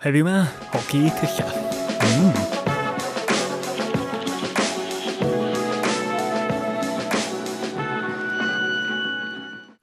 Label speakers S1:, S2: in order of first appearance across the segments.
S1: Heddiw 'ma, hoci tylla. Mmm.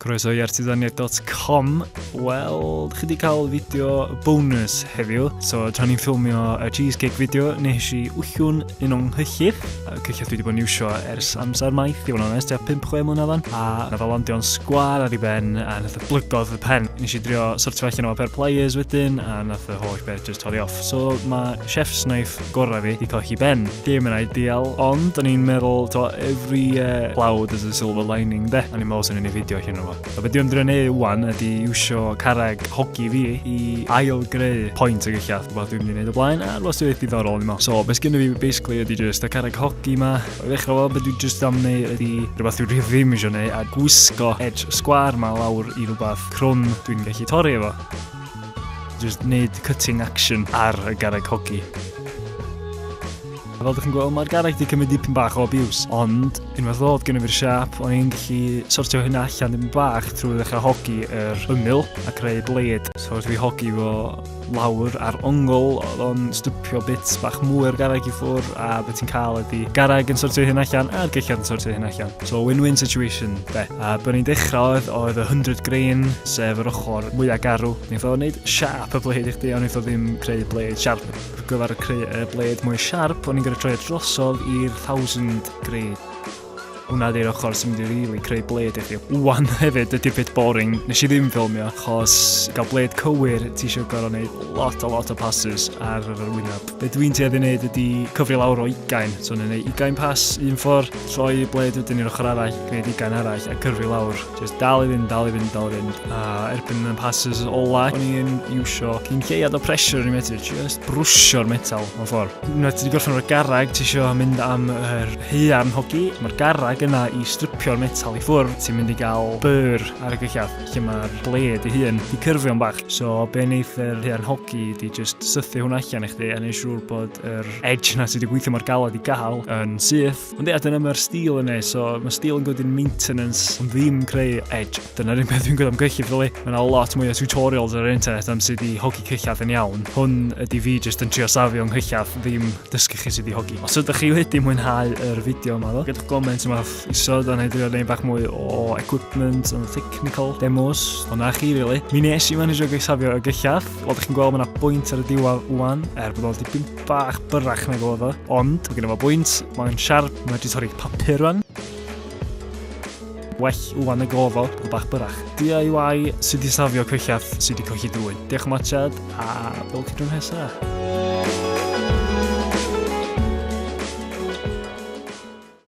S1: Croeso i artisaniaeth.com Wel, chi wedi cael fideo bonus heddiw So, tra ni'n ffilmio y cheesecake fideo Nes i wllwn un o'n nghyllid Cyn lle dwi wedi bod yn iwsio ers amser maith, i fod yn onest, tua 5-6 mlynedd o'n, a na fel ondio'n sgwar ar ei ben, a nath y blygodd y pen. Nes i drio sortio allan o pair pliers wedyn, a nath y holl beth just torri off. So mae chef's knife gorau fi wedi colli ben. Dim yn ideal, ond o'n i'n meddwl, to, every uh, cloud is a silver lining, de? O'n i'n meddwl sy'n ei fideo allan o'n fo. A beth dwi'n drwy'n ei wan ydy iwsio carreg hogi fi i ail greu pwynt o gellach. Rhywbeth dwi'n mynd i wneud o blaen a rhywbeth sy'n eithaf ddiddorol yma. So, beth gen i fi basically ydy just y carreg hogi yma. O ddechrau fel beth dwi'n just am neu ydy rhywbeth dwi'n rhywbeth ddim eisiau neu a gwisgo edge sgwar yma lawr i rhywbeth crwn dwi'n gallu torri efo. Just wneud cutting action ar y garreg hogi. A fel dych chi'n gweld, mae'r garreg wedi cymryd dipyn bach o abuse, ond unwaith ddod gen i fi'r siap, o'n i'n gallu sortio hynna allan dipyn bach trwy ddechrau hogi yr ymyl a creu bled. So wrth i fi hogi fo lawr ar ongl, oedd o'n stwpio bits bach mwy o'r garreg i ffwr, a beth ti'n cael ydy garreg yn sortio hyn allan a'r gellad yn sortio hyn allan. So win-win situation, be. A byddwn ni'n dechrau oedd, oedd y 100 grain, sef yr ochr mwyaf garw. Ni'n ffordd wneud siap y bled i chdi, ond ni'n ffordd ddim creu bled siarp. ar gyfer creu y blade mwy sharp, o'n i'n gorau troi e drosodd i'r 1000 grade. Hwna di'r ochr sy'n mynd i really creu blade i chi. Wan hefyd, ydy bit boring, nes i ddim filmio, achos gael blade cywir, ti eisiau gorau wneud lot a lot o passes ar yr wyneb. Be dwi'n tuedd i wneud ydy cyfri lawr o ugain, so ni'n gwneud ugain pass un ffordd, troi blade wedyn i'r ochr arall, gwneud ugain arall a cyfri lawr. Just dal i fynd, dal i fynd, dal i fynd. A erbyn y passes ola, o'n i'n iwsio cyn lleiad o pressure yn y metr, just brwsio'r metal mewn ffordd. Yna ti wedi gorffen o'r garag, ti eisiau mynd am yr heian hogi, mae'r garag yna i stripio'r metal i ffwrdd, ti'n mynd i gael byr ar y gyllad, lle mae'r bled i hun, i cyrfio'n bach. So, be wneith yr heian hogi, di just sythu hwnna allan i chdi, a neud siŵr bod yr edge na ti wedi gweithio mor galed i gael yn syth, Ond ie, dyna mae'r stil yn ei, so mae stil yn gwedi'n maintenance, yn ddim creu edge. Dyna'r un peth dwi'n gwybod am gyllid, really. Mae yna lot mwy o tutorials ar yr internet am sut i hogi cyllad yn iawn. Hwn ydy fi jyst yn trio safio yng nghyllad, ddim dysgu chi sut i hogi. Os ydych chi wedi mwynhau yr fideo yma, ddo, gyda'ch goment yma isod, ond hei drio neud bach mwy o equipment, yn technical, demos, hwnna chi, really. Mi nes i managio safio y gyllad, fel ydych chi'n gweld, mae yna bwynt ar y diwadd wwan, er bod o'n dipyn bach byrrach nag oedd o, ond mae gen i fo bwynt, mae'n siarp, mae wedi torri papur rwan. Well wwan y gofo, o bach byrrach. DIY sydd wedi safio cwyllaf sydd wedi colli drwy. Diolch am watchad, a fel cydrwyd nesaf.